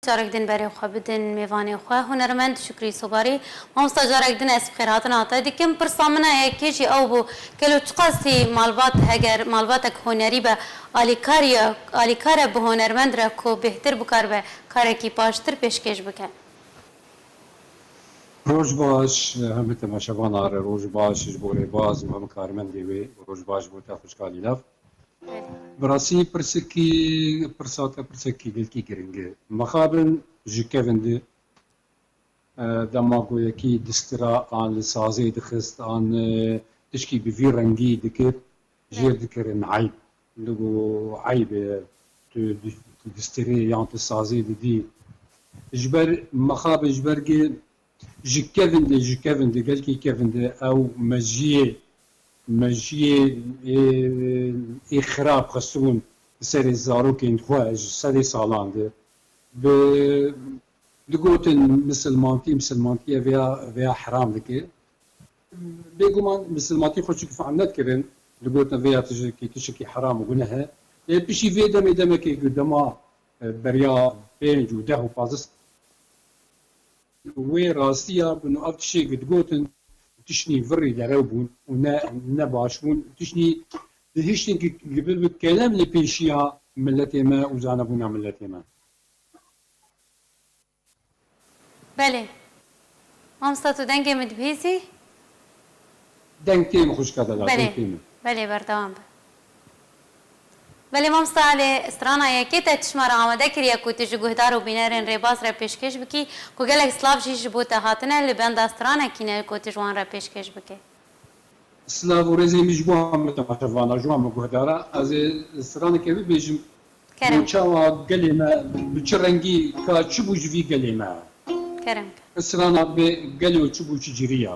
Carek din berê xwe bidin mêvanê xwe hunermend Şukrî Sobarî. Mamosta carek din ez bi xêr hatin hatay dikim. Pirsa min a yekê jî ew bû, gelo çiqas hî malbat heger malbatek hunerî be alîkar ye, alîkar e bi hunermend re ku bêhtir bikar be karekî baştir pêşkêş bike. Roj baş hem bi temaşevana re, roj baş ji bo rêbaz û hem karmendê wê û roj baş ji bo te xwişka lîlav. Bi rastî pirsikî pirsa te pirsekî gelkî giring e. Mixabin ji kevin di dema goyekî distira an li sazê dixist an tişkî bi vî rengî dikir jêr dikirin eyb. Li ku eyb e tu tu distirê yan tu sazê didî. Ji ber mixabin ji ber gê Ji kevindê ji kevindê gelkî kevindê ew mejiyê mejiyê ê xirab xistibûn li serê zarokên xwe ji sedê salan de bi digotin misilmantî misilmantiye vêya vêya heram dike. Bêguman misilmantî xwe çikî fehm nedikirin digotin vêya tijikî tişikî heram û guneh e. Lê piştî vê demê demekê ku dema Beriya pênc û deh û pazdeh sed wê rastiya bi nav tiştê ku digotin tiştî virrî derew bûn û ne ne baş bûn û tiştî di hiştên ku bibe kelem li pêşiya miletê me û zanebûna miletê me. Belê. Mamosta tu dengê min dibihîzî? Deng tê min xwişka te da, deng tê min. Belê, belê berdewam be. Belê mamosta lê strana yekê te tişma re amade kiriye ku tu ji guhdar û bînerên rêbaz re pêşkêş bikî ku gelek slav jî ji bo te hatine li benda stranekî ne ku tu ji wan re pêşkêş bikê. Slav û rêzên min ji bo hemû temaşevanan, ji wan min guhdaran. Ez ê straneke bibêjim. Kerem. Û çawa gelê me bi çi rengî ka çi bû ji vî gelê me. Kerem. Strana bê gelo çi bû çi cirî ya.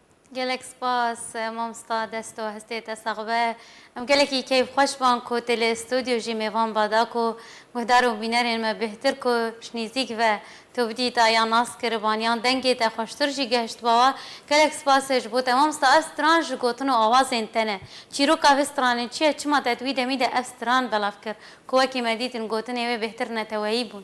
Gelek spas mamsta desto hestê te sax be. Em gelekî keyf xweş van ku tê li studio jî mêvan ba da ku guhdar û bînerên me bêhtir ku ji nîzîk ve tu bidî da yan nas kir ban yan dengê te xweştir jî gehişt ba wa. Gelek spas ji bo te mamsta ev stran ji gotin û awazên te ne. Çîroka vê stranê çi ye çima te di wî demî de ev stran belav kir ku wekî me dîtin gotinê wê bêhtir neteweyî bûn.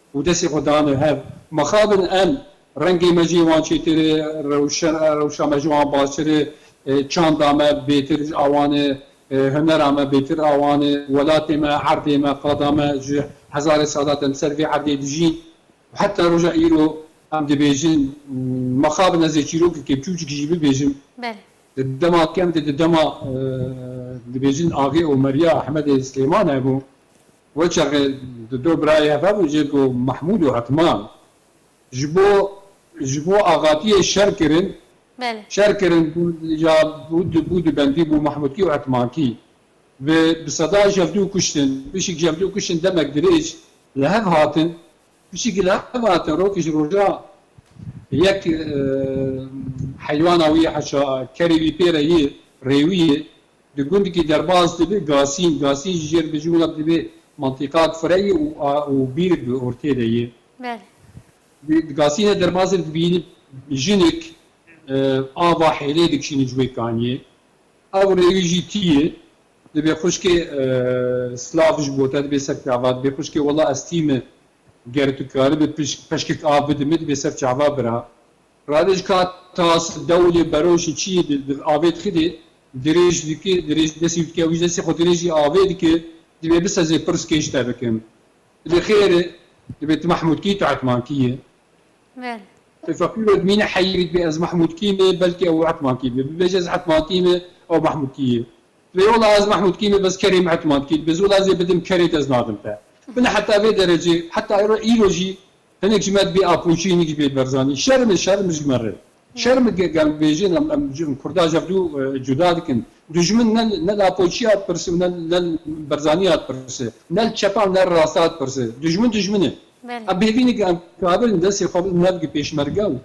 Û destê xwe dane hev. Mixabin em, rengê me jî wan çêtir e, rewşa me ji wan baştir e, çanda me bêtir ji awan e, hunera me bêtir awan e, welatê me, erdê me, qada me ji hezarê salat em ser vê erdê dijîn û heta roja îro em dibêjin. Mixabin ez ê çîrokekê biçûcik jî bibêjim, di dema kem de di dema dibêjin Agê Omerîya Ehmedê Silêman hebû. We çaxê di do birayê heve bû jê ku Mahmûd û Hetman ji bo ji bo axatiyê şer kirin Belê. şer kirin bû ya bû di bû di bendî bû Mahmûdkî û Hetmankî bi bi sedan jevdû kuştin. Pişik jevdû kuştin demek dirêj li hev hatin. Pişik li hev hatin rokê ji rojan yek heywana wî heşa kerê wî pê re yê rêwiyê Di gundikî derbas dibe Gasîn. Gasîn ji jêr dijî wina dibe mantîqak fire ye û bîrek bi ortê de ye. Belê. Di Gasînê derbasê de dibînin jinik ava hêlê dikişînin ji wê kaniyê. Ew rêwî jî tî ye. Dibe xwişkê silav ji bo te dibe ser çava dibe xwişkê wela ez tî me ger tu karibî peşkek av bidime dibe ser çava bira. Radiç ka tas dewlê beroşê çiyê di di avê dixînê, dirêj diki, dirêj destê wî dike, wî ji destê xwe dirêjî avê dike, dibê biseze pirs kêş te bikim. Dibê xêr e, dibê tu Mahmûd kî, tu Etman kî yî? Belê. Tu feqîro dimîne heyî vî dibê ez Mahmûd kî me, belkî ew Etman kî be. Bibêje ez Etman kî me, ew Mahmûd kî yî. Dibê wila ez Mahmûd kî me, bes kerê min Etman kî. Dibê zû wila ez ê bidim kerê te ez nadim te. Bila heta vê derecê, heta îro îro jî Hinek ji me dibê apoçî hinek ji bê berzanî. Şerm e şerm ji me re. Şerm e gel bêjin em em em kurda ji hev du cuda dikin. Dijmin ne ne li apoçîya dipirse û ne ne li berzanîya dipirse. Ne li çepa û ne li rasta dipirse. Dijmin dijmin e. Belê. Em bêvîne ke em kabil in destê xwe bidin hev gi pêşmerge û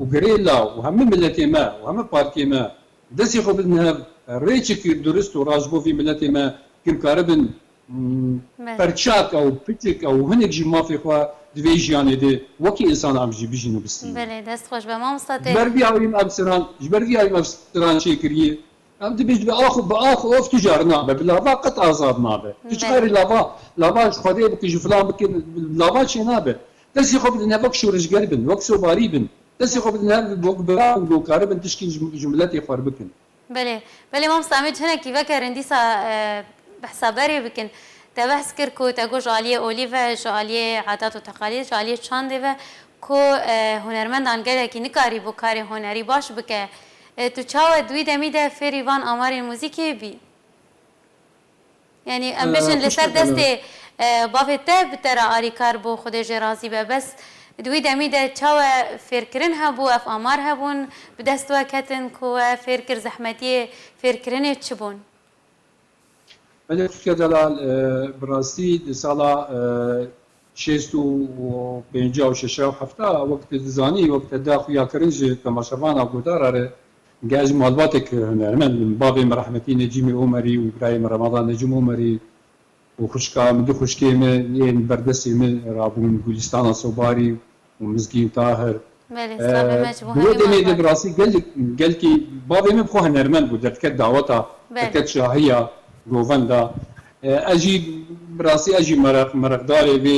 û gerêla û hemû miletê me û hemû partiyê me destê xwe bidin hev rê çi kir durist û rast ji bo vî miletê me kin karibin Perçaka û pitika û hinek jî mafê xwe di vê jiyanê de wekî însan avcî bijîn û bistînin. Ji ber vî awî mafsiran ji ber vî awî mafsiran çêkiriye. Em dibêjin bi ax bi ax of tu car nabe bi lava qet azad nabe. Tu çikarî lava lava ji xwedê bike ji filan bike bi lava çênabe. Destê xwe bidin hev wek şoreşger bin wek sobarî bin destê xwe bidin hev wek bira bin gokaribin tişkî ji miletê xwe re bikin. Belê, belê mamosta em ê ji hinekî vekerin dîsa bi hesaberê bikin. Te behs kir ku te got ji aliyê olî ve, ji aliyê adat û teqalîd, ji aliyê çandê ve ku hunermendan gelekî nikarîbû karê hunerî baş bike. Tu çawa di wî demî de fêrî van amarên muzîkê bî? Yanî em bijîn li ser destê bavê te bi te re alîkar bû Xwedê jê razî be bes di wî demî de çawe fêrkirin hebû ev amar hebûn bi dest we ketin ku we fêr kir zehmetiyê fêrkirinê çi bûn? Belê Xwike Delal bi rastî di sala Şêst û pêncî û şeş û hefta wek te dizanî wek te da xuya kirin ji temaşevana godara re ge ez malbatek hunermend bin bavê min rehmetî Necîmê Omerî û birayê min Remadan Necim Omerî û xwişka min du xwişkê min yên berdestê min ra bûn Gulîstana Sobarî û Mizgîn Tahir. Belê, slavê me ji bo hemî man vat. Bi rastî gelkî bavê min bi xwe hunermend bû, derdiket daweta, derdiket şahiya govenda. Ez jî bi rastî ez jî mereqdarê vê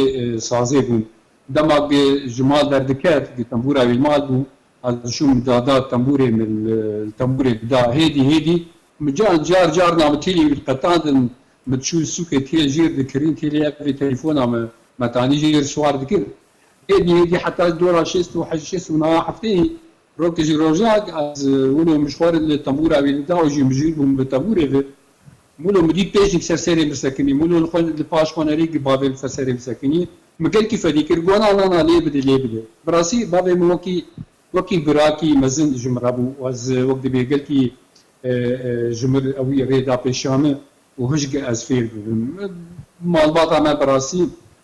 sazê bûm. Dema ku ji mal derdiket, ku tembûra wî li mal bû, ez diçûm min dada tembûrê min li tembûrê dida. Hêdî hêdî min car car car navê têlê wî diqetandin, min diçû sûkê têl jêr dikirîn, têlê ev ê telefona me metanî jêr siwar dikir. Êdî êdî heta ji dora şêst û heşt şêst û niha heftê rokê ji rojak ez wilo min ji xwe re li tebûra wî dida û jî min jûr bûm bi tebûrê ve. Wilo min dît pêşî bi ser serê min sekinî. Wilo li xwe li paş xwe nerîgî bavê li ser serê min sekinî. Min gelkî fedî kir gona nana lê bidê lê bidê. Bi rastî bavê min wekî wekî birakî mezin ji min re bû û ez wek dibê gelkî ji min re wî rê da pêşiya min û hişk ez fêr bibim. Malbata me bi rastî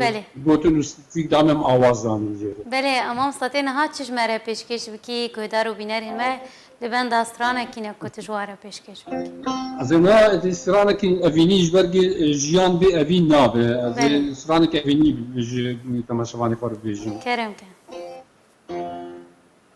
Belê. Gotin û stîtîk dan em awa zanin jê re. Belê, emam setê niha çi ji me re pêşkêş bikî, guhdar û bînerên me li benda stranekî ne ku tu ji wan re pêşkêş bikî. Ez ê niha êdî stranekî evînî ji ber ku jiyan bê evîn nabe. Ez ê stranekî evînî ji temaşevanê xwe re bibêjim. Kerem ke.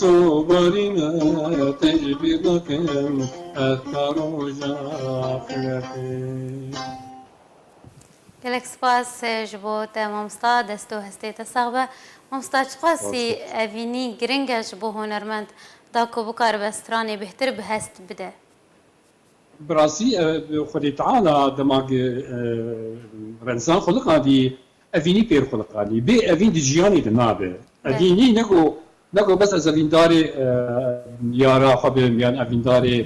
To barî me têjî bîr nakim ez ta roja filetê. Gelek spas ji bo te mamosta, dest û hestê te sax be. Mamosta çiqasî evînî giring e ji bo hunermend da ku bikaribe stranê bêhtir bi hest bide? Bi rastî Xwedê Teala dema ku Remzan xweliqandî evînî pêr xweliqandî. Bê evîn di jiyanê de nabe. Evînî ne ku ne ku bes ez evîndarê yara xwe bim yan evîndarê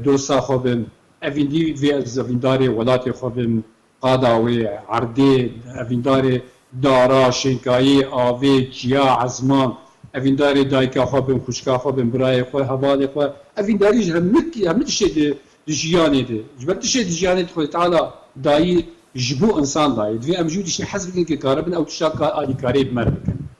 dosta xwe bim. Evînî divê ez evîndarê welatê xwe bim, Qada wê ye, erdê, evîndarê dara, şênkayê, avê, çiya, ezman, evîndarê dayika xwe bin, xwişka xwe bin, birayê xwe, hevalê xwe, evîndarî ji hemû hemû tiştê di di jiyanê de, ji ber tiştê di jiyanê de Xwedê Teala dayî ji bo insan dayî. Divê em jû tiştê hez bikin ke karibin ew tişta ka alîkarê bi me re bikin.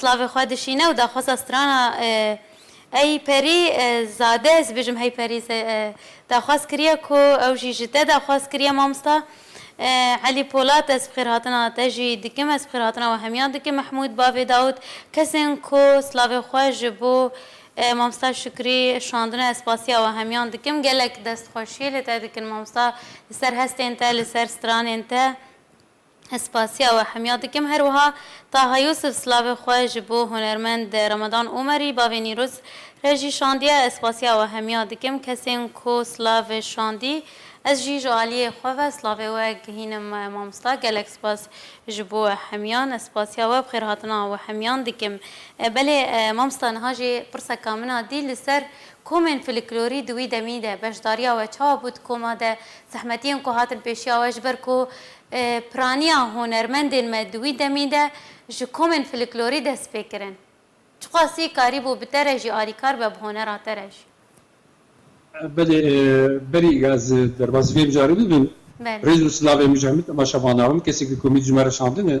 Slavê xwe dişîne û daxwaza strana Ey Perî zade, ez dibêjim Hey Perî ze, daxwaz kiriye ku ew jî ji te daxwaz kiriye mamosta Elî Polat, ez bi xêrhatina te jî dikim, ez bi xêrhatina we hemiyan dikim Mehmûd bavê Dawûd, kesên ku slavê xwe ji bo mamosta Şukrî şandine ez spasiya we hemiyan dikim, gelek destxweşiyê li te dikin mamosta li ser hestên te, li ser stranên te. Ez spasiya we hemya dikim. Her wiha Taha Yûsif silavê xwe ji bo hunermend Ramadan Omerî, bavê Nîruz, re jî şandiye. Ez spasiya we hemya dikim kesên ku silav şandî. Ez jî ji aliyê xwe ve silavê we gihînim mamosta. Gelek spas ji bo hemyan. Ez spasiya we bi xêrhatina we hemyan dikim. Belê mamosta niha jî pirseka min a dî li ser komên filiklorî di wî demî de beşdariya we çawa bû di koma de Zehmetiyên ku hatin pêşiya we ji ber ku piraniya hunermendên me di wî demî de ji komên filiklorî dest pê kirin. Çiqasî karîbû bi te re jî alîkar be bi honera te re jî? Belê, berî ez derbasî vê mijarê bibim. Belê. Rêz û silavên min ji hemû temaşevanan, hemû kesên ku komî di ji me re şandine,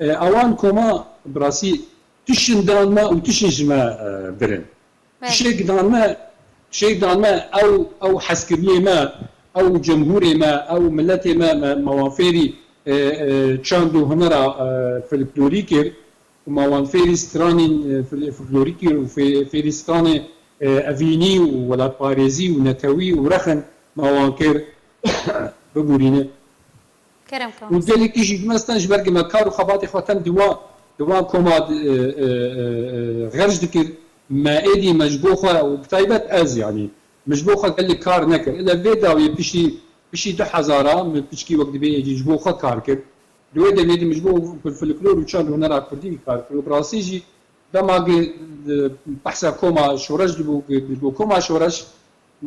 Awan ku ma bi rastî tişin dan me û tişin ji me bir in. Tişek dan me, tişek dan me ew ew hezkiriniyê me, ew cemhûrê me, ew miletê me, me ma wan fêrî çand û hunera filiklorî kir û ma wan fêrî stranên filiklorî kir û fêrî stranê evînî û welatparêzî û netewî û rexin ma wan kir. Bibûrîne û gelekî jî dime sten ji ber ku me kar û xebatê xwe tem di wan di wan koma de xerc dikir me êdî me ji bo xwe û bi taybet ez yanî min ji bo xwe gelek kar nekir ile vê dawiyê piştî piştî du hezaran min piçkî wek dibê êdî ji bo xwe kar kir di wê demê de min ji bo folklor û çand û hunera kurdî kar kir û bi rastî jî dema ku behsa koma şoreş dibû ku ji bo koma şoreş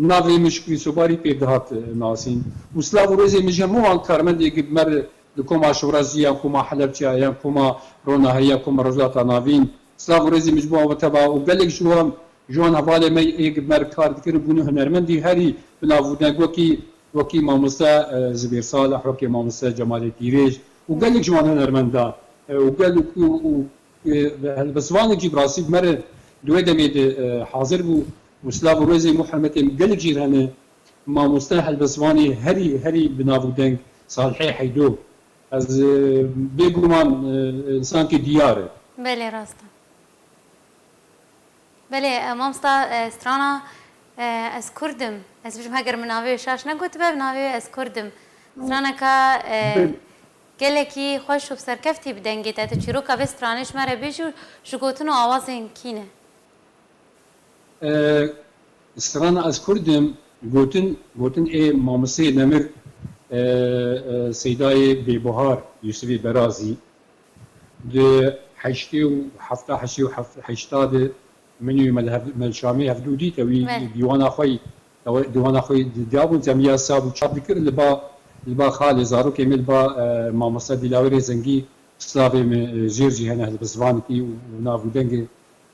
Navê min ji Kurîsobarî pê dihat nasîn û silav û rêzên min ji hemû wan karmendê yek mer li koma Şiwrazî yan koma Helebçe yan koma Ronaheyî yan koma Rojhilata Navîn silav û rêzên min ji bo wan wete ba û gelek ji wan ji wan hevalên me yek mer kar dikin û bûne hunermendî herî bi nav û deng wekî wekî mamoste Zibêr Salih wekî mamoste Cemalê Pîrêj û gelek ji wan hunermenda û gel û bi zivanek jî bi rastî bi mer di wê demê de hazir bû Û silav û rêzên bo hermetên gelê cî hene mamoste helbestvanê herî herî bi nav û deng Salihê Heydo ez bê guman insankê diyar e. Belê rast e. Belê mamosta strana ez kurd im ez bijim heger min navê wê şaş negotibe bi navê wê ez kurd im straneka gelekî xweş û bi serkeftî bi dengê te tu çîroka vê stranê ji me re bêjî û ji gotin û awazên kî ne. Strana ez kurd im gotin gotin ê mamosteyê nemir Seydayê Bêbuhar Yusifê Berazî di heştê û hefta heştê û heşta de min û Melşamê hevdu dîte wî dîwana xwe yî dîwana xwe yî didiyabûn temiya sab û çap dikir li ba li ba xalê zarokê me li ba mamosta Dîlawerê Zengî slavê me jêr jî hene bi zivanikî û nav û dengê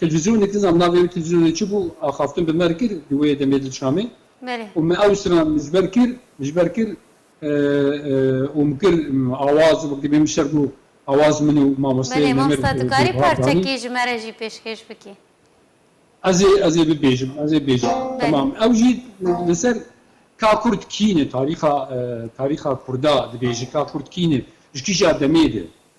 Televîzyonê dizam navê wê televîzyonê çi bû, axaftin bi me re kir di wê demê li Şamê û me ew stran ji ber kir, ji ber kir û min kir awaz û wekî bê min şer bû awaz min û mamosteyê Belê mamosta tu karî parçekî ji me re jî pêşkêş bikî. Ez ê ez ê bibêjim ez ê bêjim temam ew jî li ser ka kurd kî ne tarîxa tarîxa kurda dibêjin ka kurd kî ne ji kîja demê de.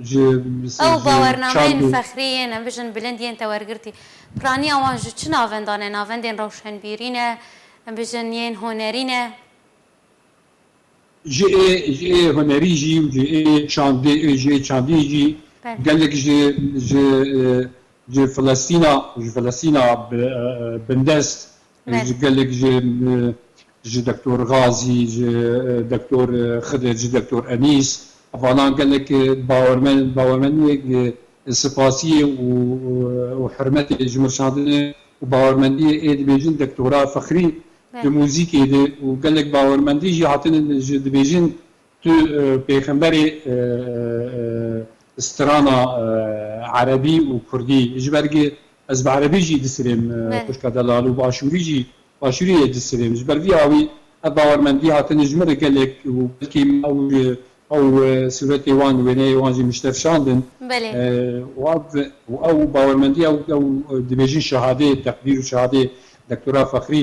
Ew bawernameyên fexrî yên, em bijîn bilind yên te wergirtî. Piraniya wan ji çi navendan e? Navendên rewşenbîrî ne, em bijîn yên hunerî ne. Ji ê ji ê hunerî jî û ji ê çandê û ji ê çandî jî gelek ji ji ji Filistîna ji Filistîna bindest Ji gelek ji ji Doktor Gazî, ji Doktor Xidir, ji Doktor Enîs vanan gelek bawermen bawermeniyek sipasiyê û hurmetê ji min şandine û bawermendiyê ê dibêjin Doktora Fexrî di muzîkê de û gelek bawermendî jî hatine ji dibêjin Tu pêxemberê strana erebî û kurdî ji ber gi ez bi erebî jî disirêm xwişka delal û bi aşûrî jî aşûrî yê disirêm ji ber vî awî ev bawermendî hatine ji min re gelek û belkî ew ji ew sûretê wan wêneyê wan jî miştefşandin û ev û ew bawermendî ew ew dibêjin şehadê teqdîr û şehadê Doktora Fexrî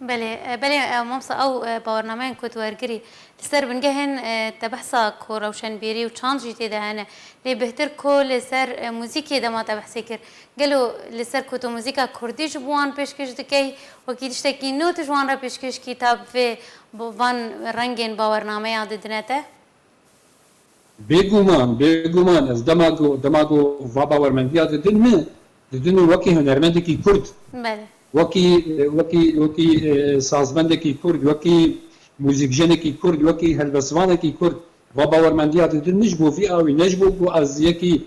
Belê, belê mamsa ew bawernameyên ku tu wergirî li ser bingehên te behsa ku rewşenbîrî û çand jî tê de hene. Lê bêhtir ku li ser muzîkê dema te behsê kir. Gelo li ser ku tu muzîka kurdî ji bo wan pêşkêş dikey wekî tiştekî nû tu ji wan re pêşkêş kî ta bi vê van rengên bawernameya didine te? Bêguman, bêguman ez dema ku dema ku va bawermendiya didin min, didin min wekî hunermendekî kurd, wekî wekî wekî sazmendekî kurd, wekî muzîkjenekî kurd, wekî helbestvanekî kurd va bawermendiya didin min ji bo vî awî ne ji bo ku ez yekî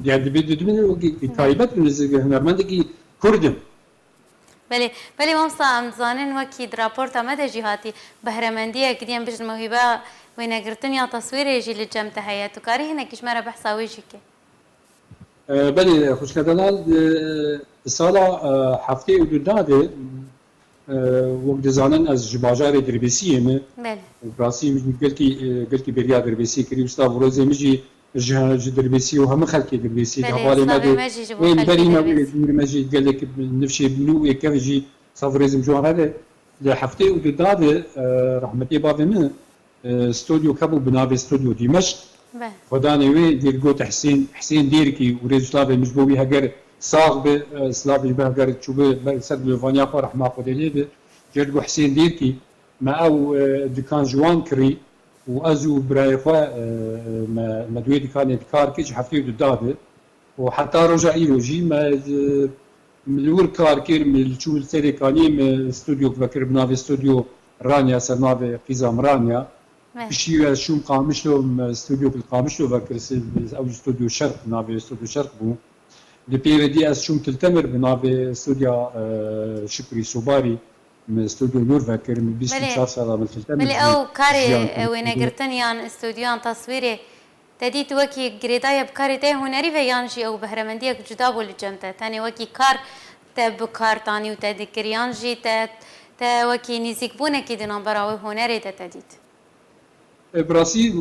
yani dibê didin min wekî taybet û nêzîk hunermendekî kurd im. Belê, belê mamsta em dizanin wekî di raporta me de jî hatî behremendiyek diyem bijîn mewhîba wênegirtin ya teswîrê jî li cem de heye. Tu karî hinekî ji me re behsa wê jî kê. Belê xwişke Delal di sala heftê û du da de wek dizanin ez ji bajarê Dirbêsiyê me. Belê. Bi rastî min jî gelkî gelkî bêriya Dirbêsiyê kirî û silav û rêzê min jî. Ji ji dirbêsî û hemû xelkê dirbêsî hevalê me dê ê li berî me û ê dûr me jî gelek nifşê bûne û ê kevn jî sav û rêzim ji wan re be. Di heftê û du da de rehmetê bavê min studyok hebû bi navê Studyô Dîmeşq. Xwe danê wê dê li gote Hisên Hisên Dêrkî û rêz û slavên min ji bo wî heger sax be. Slavê ji bo heger çûbi ber li ser mirovaniya xwe rehma Xwedê lê be. Ji ber li gor Hisên Dêrkî Me ew dikan ji wan kirî û ez û birayê xwe me di wê dikanê dikar kir ji hefteyê du dave û heta roja îro jî me li wir kar kir. Me li çû li serê kaniyê me stûdyok vekir bi navê Stûdyo Ranya ser navê Qîza min Ranya. Piştî wê ez çûm Qamişlo me stûdyok li Qamişlo vekir ew jî Stûdyo Şerq bi navê Stûdyo Şerq bû. Li pêve dî ez çûm Til Temir bi navê Stûdya Şukurî Sobarî Min studyo nûr vekir, min bîst û çar sal a, min filte min jî jiyan kiriye. Belê ew wêne girtin yan studyoyan taswîrê te dît wekî girêdayî bi karê te yê hunerî ve yan jî ew behremendiyek cuda bû li cem te? Tenê wekî kar te bi kar t anî û te dikir yan jî te te wekî nîzîkbûnekî di nambera wê hunerê de te dît? Bi rastî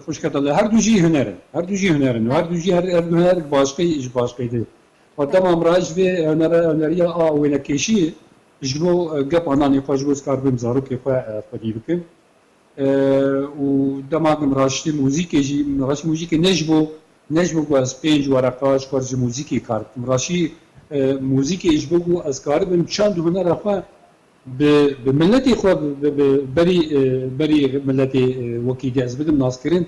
xwişka te li her du jî huner in. Her du jî huner in û her du jî her du huner ji başqî ji başqî dê. Xwe dema min re ji vê huneriya a wênekêşiyê Ji bo gepa nanê xwe ji bo ez kar bim zarokê xwe xwedî bikim û dema ku min raştî muzîkê jî min raştî muzîkê ne ji bo ne ji bo ku ez pênc wereqa ji xwe ji muzîkê kar bikim raştî muzîkê ji bo ku ez karibim çend û hunera xwe bi bi miletê xwe bi bi berî berî miletê wekî dê ez bidim naskirin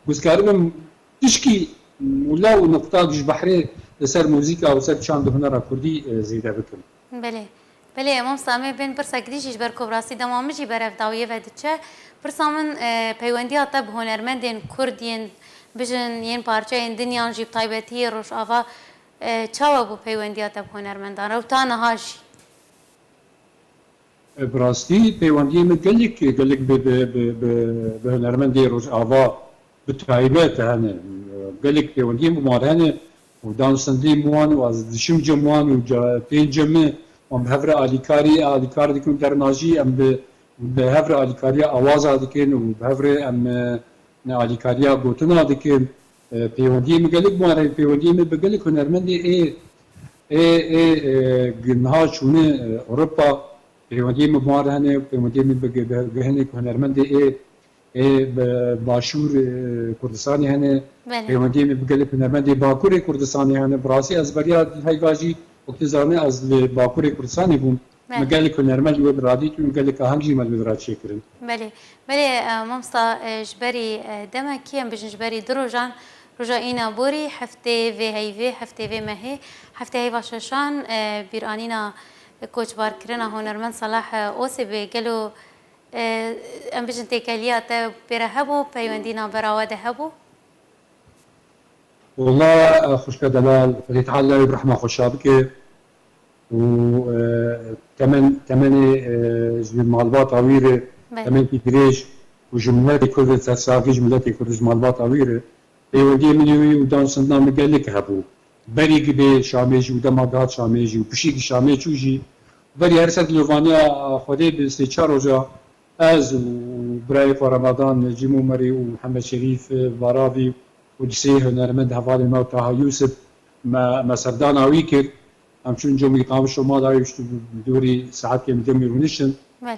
ku ez karibim tişkî mûla û nuqtak ji behrê li ser muzîka û ser çend û hunera kurdî zêde bikim. Belê. Belê mamsta em ê bên pirsa gidî jî ji ber ku bi rastî dema min jî ber ev dawiyê ve diçe. Pirsa min peywendiya te bi hunermendên kurd yên bijin yên parçeyên dinyan jî bi taybetî yê rojava çawa bû peywendiya te bi hunermendan re û ta niha jî? Bi rastî peywendiyê min gelek gelek bi bi bi bi bi hunermendê rojava bi taybet hene. Gelek peywendiyên bi wan hene û dan sendîm wan û ez diçim cem wan û pê cem e wan bi hev re alîkarî alîkar dikin û dernajî em bi bi hev re alîkariya awaza dikin û bi hev re em ne alîkariya gotina dikin pêwendiyê min gelek bi wan re pêwendiyê min bi gelek hunermendê ê ê ê ê niha çûne Ewropa pêwendiyê min bi wan re hene pêwendiyê min bi bi hinek hunermendê ê Ê bi Başûr Kurdistanê hene, pêwendiyê min bi gelek hunermendê Bakurê Kurdistanê hene. Bi rastî ez beriya heyva jî wek tu zanî ez li Bakurê Kurdistanê bûm. Min gelek hunermend li wê bi radîtin û gelek aheng jî me li wê bi ra çêkirin. Belê, belê mamsta ji berî demek em bijîn ji berî du rojan, roja îna borî, heftê vê heyvê, heftê vê mehê, heftê heyva şeşan, bîranîna koçbarkirina hunermend Salah Osê bê. Gelo Em bijin têkeliya te pê re hebû, peywendî navbera we de hebû. Walla xwişka delal xwedê teala wî bi rehma xwe şa bike û temen temenê ji wî malbata wî re temenkî dirêj û ji miletê kurd re sersavî ji miletê kurd û ji malbata wî re peywendiyê min û wî û dan sindina min gelek hebû. Berî gibê Şamê jî û dema dihat Şamê jî û pişîkî Şamê çû jî berî her ser dilo vaniya Xwedê bi sê çar roja ez û birayê xwe Ramadan Cîmomerî û Mihemed Şerîf Varavî û di sê hunermend hevalên me û Taha Yûsif me me serdana wî kir. Em çûn comî qamij şo mala wî biştû bi dorî saetên bi comî rûniştin. Belê.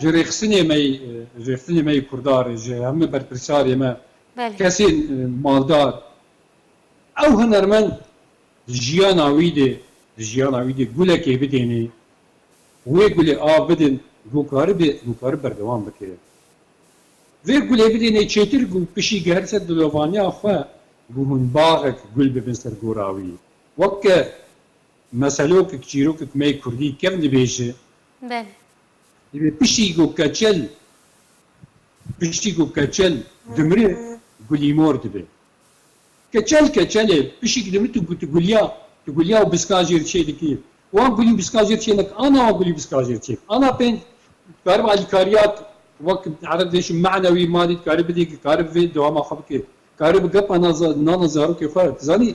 Ji rêxistinê me yî, rêxistinê me yî kurdar e, ji heme berpirsarê me, kesên maldar. Ew hunermend di jiyana wî de, di jiyana wî de gulekê bidêne, wê gulê av bidin ku karibe, ku karibe berdewam bike. Vê gulê bidêne çêtir ku pişî gihert ser dilovaniya xwe ku hûn baxek gul bibin ser gora wî. Weke meselokek, çîrokek me yê kurdî kevn dibêje. Divê piştî ku keçel piştî ku keçel dimire gulîmor dibe. Keçel keçel e, pişik dimire tu tu gulya, tu gulya û biska jê re çê dikî. Wan gulî biska jê re çê neke, ana wan gulî biska jê re çê dike. Ana pênc dikaribe alîkariya wek ereb dê ji manewî madî dikaribe bidê dikaribe vê dewama xwe bike. Dikaribe bi gepa nana zarokê xwe, tu zanî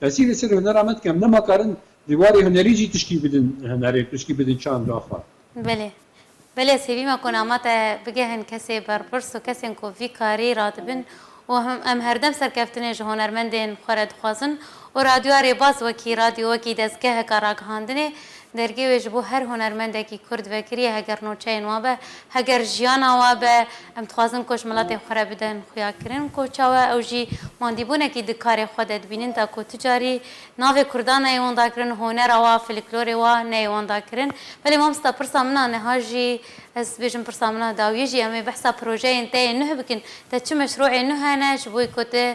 Pesî li ser hunera me dikem. Nema karin di warê hunerî jî tiştî bidin hunerê, tiştî bidin çanda xwe. Belê. Belê ez hêvî me ku nama te bigehin kesê berpirs û kesên ku vî karî radibin û em herdem serkeftinê ji hunermendên xwe re dixwazin û Radyoa Rêbaz wekî radyo, wekî dezgeheka ragihandinê Dergê wê ji bo her hunermendekî Kurd vekiriye heger nûçeyên wan be, heger jiyana wan be, em dixwazin ku ji miletên xwe re bidin xuyakirin ku çawa ew jî mandîbûnekî di karê xwe de dibînin ta ku tu carî navê Kurdan neyê wenda kirin, hunera wan, filiklorê wan neyê wenda kirin. Belê mamosta pirsa min a niha jî ez bêjim pirsa min a dawiyê jî em ê behsa projeyên te yê nuh bikin. Te çi meşrûeyên nuh hene ji bo ku tu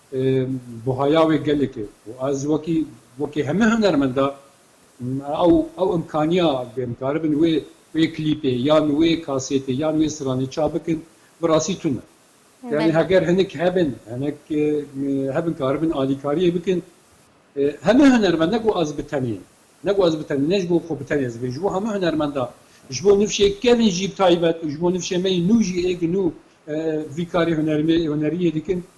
Buhaya wê gelek e û ez wekî wekî hemû hunermenda ew ew imkaniya bim karibin wê wê klîpê yan wê kasêtê yan wê stranê çap bikin bi rastî tune. Yanî heger hinek hebin hinek hebin karibin alîkariyê bikin hemû hunermend ne ku ez bi tenê ne ku ez bi tenê ne ji bo xwe bi tenê ez ê vê ji bo hemû hunermenda ji bo nifşê kevin jî bi taybet û ji bo nifşê me yî nû jî êk nû vî karê hunermê huneriyê dikin.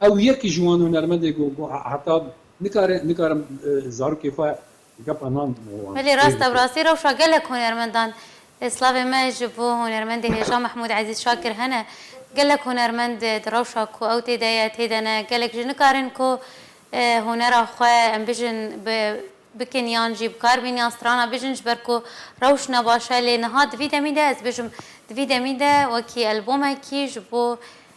Ew yek ji wan hunermendê ku heta nikare nikarim zarokê xwe gepa nan wan. Belê rast ew rastî rewşa gelek hunermendan e. Slavê me ji bo hunermendê hêja Mehmûd Ezîz Şakir hene. Gelek hunermend di rewşa ku ew tê de ye tê de ne. Gelek jî nikarin ku hunera xwe em bijin bi bikin yan jî bi kar bin yan strana bijin ji ber ku rewş ne baş e. Lê niha di vî demî de ez dibêjim di vî demî de wekî elbomekî ji bo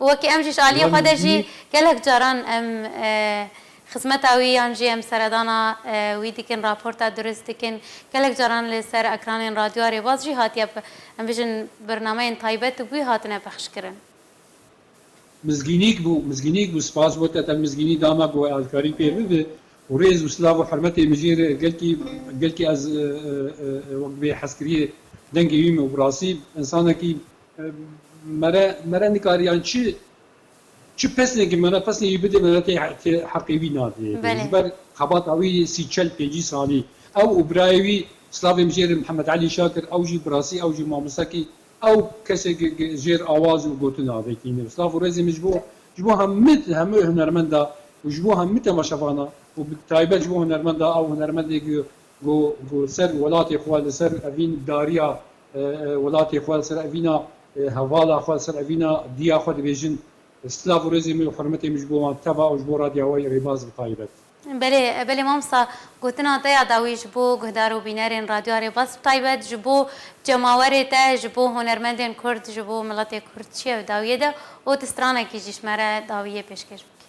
û wekî em jî ji aliyê xwe de jî gelek caran em xizmeta wî yan jî em seredana wî dikin, raporta dirust dikin, gelek caran li ser ekranên radyoa rêbaz jî hatiye em bijin birnameyên taybet û bi wî hatine pexşkirin. Mizgînîk bû, mizgînîk bû, spas bo te, te mizgînî da me bi wê alkarî pê bibe û rêz û silav û hermetê mijîl e gelkî, gelkî ez wek bi hezkiriyê dengê wî me û bi rastî insanekî Mere mere nikariyan çi çi pesnekî mere pesnekî bidê mere tê tê heqê wî nadê. Belê. Ji ber xebata wî sî çel pêncî salî ew û birayê wî slavê min jê re Mihemed Elî Şakir ew jî bi rastî ew jî mamosekî ew kesekî ki jêr awaz û gotin avêtîne. Slav û rêzê min ji bo ji bo hemû hemû hunermenda û ji bo hemû temaşevana û bi taybet ji bo hunermenda ew hunermendê ki ku ku ser welatê xwe li ser evîn dariya Welatê xwe li ser evîna hevala xwe, li ser evîna diya xwe dibêjin. Silav û rêzê min û hurmetê min ji bo wan teva û ji bo Radya Wayî Rêbaz bi taybet. Belê, belê mamosta, gotina te ya dawî ji bo guhdar û bînerên Radya Rêbaz bi taybet, ji bo cemawerê te, ji bo hunermendên Kurd, ji bo miletê Kurd çi ye di dawiyê de û tu stranekî jî ji me re dawiyê pêşkêş bikî.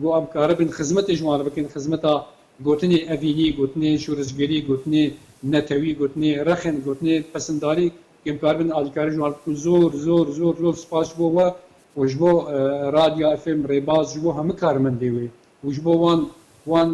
Ku em karibin xizmetê ji wan re bikin, xizmeta gotinê evînî, gotinê şoreşgerî, gotinê netewî, gotinê rexin, gotinê pesindarî, ku em karibin alîkarî ji wan re bikin, zor zor zor zor spas ji bo we û ji bo Radya FM Rêbaz, ji bo hemû karmendê wê û ji bo wan wan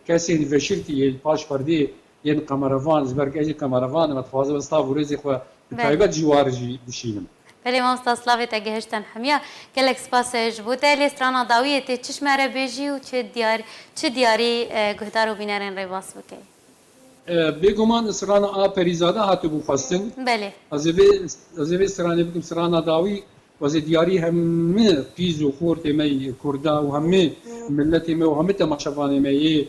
kesên veşirtî yê li paş perdeyê Yên qemerevan ji ber ku ez jî qemerevan im, ez dixwazim vê silav û rêzê xwe bi taybet ji war jî bişînim. Belê mamosta silavê te gihiştin hemiya. Gelek spas ji bo te. Lê strana dawiyê tê çi ji me re bêjî û çi diyar çi diyarî guhdar û bînerên rê bas bikey? Bêguman strana a Perîzade hatibû xwestin. Belê. Ez ê vê ez ê vê stranê bikim strana dawî û ez ê diyarî heme qîz û xortê me yê kurda û heme miletê me û heme temaşevanê me yê